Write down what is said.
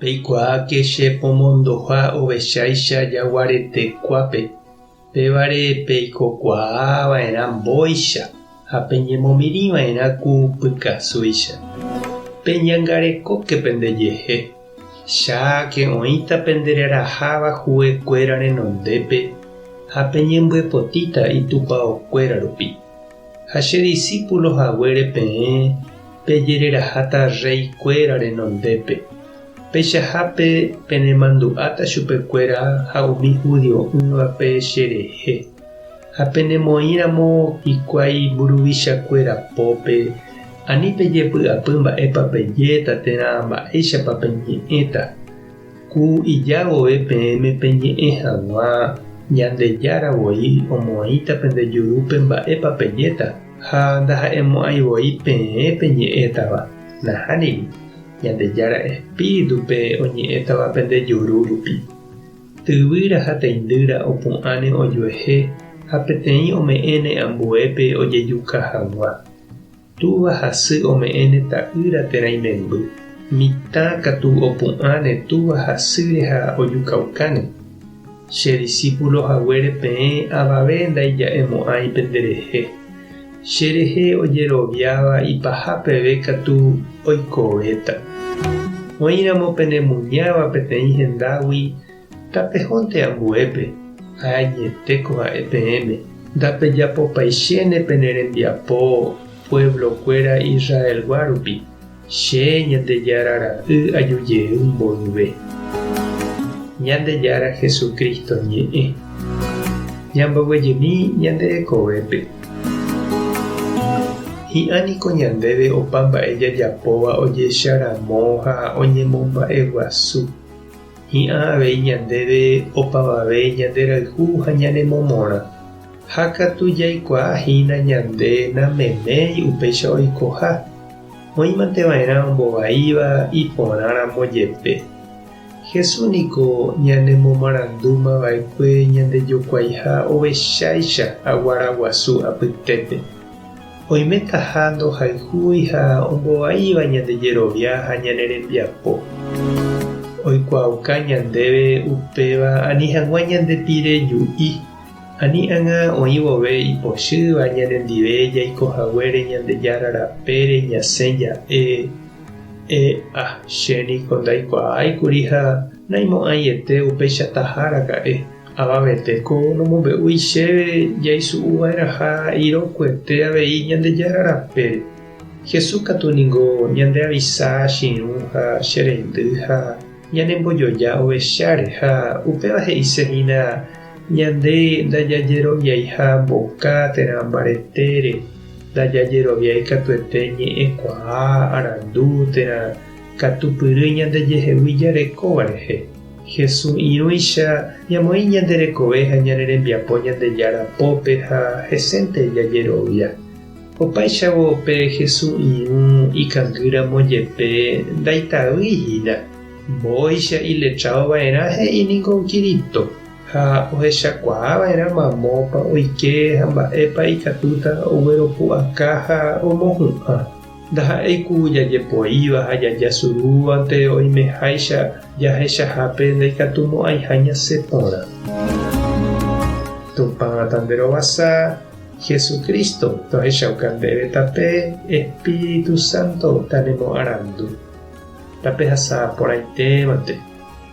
Peikuaáke che pomondoha ovecháicha jaguaretekuápe, pévare peikokuaa va'erã mbóicha ha peñemomirĩ va'erã ku pykasúicha. Peñangarekóke pende jehe, cháke oĩta pendereraháva huguekuéra renondépe ha peñembyepotíta itupaokuéra rupi. Ha che disípulo haguére peẽ pejereraháta rréi kuéra renondépe, peichahápe penemandu'áta chupe kuéra ha umi judio'ỹvape che rehe, ha penemoĩramo hikuái mburuvicha kuéra pópe, ani pejepy'apy mba'épa pejéta térã mba'éichapa peñe'ẽta. Ku ija vove peẽme peñe'ẽ hag̃ua, Ñandejára voi omoĩta pende jurúpe mba'épa pejéta, ha ndaha'emo'ãi voi peẽ peñe'ẽtava. Nahániri, Ñandejára Espíritupe oñe'ẽtava pende juru rupi. Tyvýra ha teindýra opu'ãne ojuehe ha peteĩ ome'ẽne ambuépe ojejuka hag̃ua. Túva ha sy ome'ẽne ta'ýra térã imemby. Mitã katu opu'ãne túva ha sýre ha ojukaukáne. Che disípulo haguére peẽ avave ndaija'emo'ãi pende rehe. Che rehe ojeroviáva ipaha peve katu oikovéta. Oĩramo penemuñáva peteĩ hendágui, Tapehónte ambuépe, ha añetéko ha'e peẽme, ndapejapopaichéne pene rembiapo pueblo-kuéra Israelgua rupi, Che Ñandejára Ra'y aju jey mboyve. Ñandejára Jesucristo ñe'ẽ. Ñamboguejymi ñande rekovépe. Hi'ã niko ñandéve opa mba'e jajapóva ojecha ramo ha oñemomba'eguasu. Hi'ã avei ñandéve opavave ñanderayhu ha ñane momorã, ha katu jaikuaa hína ñande nameméi upéicha oikoha, oĩmante va'erã ombovaíva iporã ramo jepe. Jesús niko ñane momarandúma va'ekue ñande jokuaiha ovecháicha aguara guasu apytépe. Oimetaha ndohayhúi ha ombovaíva ñande jerovia ha ñane rembiapo. Oikuaauka ñandéve upéva ani hag̃ua ñande pire ju'i, ani ág̃a oĩ vove ipochýva ñanendive jaiko haguére Ñandejára rapére ñasẽ ja'e. EA. Che niko ndaikuaái kuri ha naimo'ãiete upeichataha raka'e. Avavete, ko nomombe'úi chéve jaisu'u va'erãha irokuete avei Ñandejára rapére. Jesús katu ningo ñandeavisa chiru ha che reindy ha ñanembojoja ovecháre, ha upéva he'ise hína ñande ndajajeroviaiha mboka térã mbaretére, ndajajeroviái katuete ñe'ẽkuaa, arandu, térã katupyry ñandejehegui jarekóva rehe. Hesu irũicha ñamoĩ ñande rekove ha ñane rembiapo Ñandejára pópe ha hesénte jajerovia. Opáichavo pe Hesu irũ ikangy ramo jepe ndaitavýi hína, mbóicha iletrado va'erã he'i ningo Kirito ha ohechakuaa va'erã mamópa oike ha mba'épa ikatúta ogueropu'aka ha omohu'ã. Ndaha'éi ku jajepoíva ha jajasurúvante oimeháicha jahechahápe ndaikatumo'ãiha ñasẽ porã. Tupã Tanderovasa, Jesucristo, tohechauka ndéve tape Espíritu Santo tanemoarandu, tapehasa porãitémante.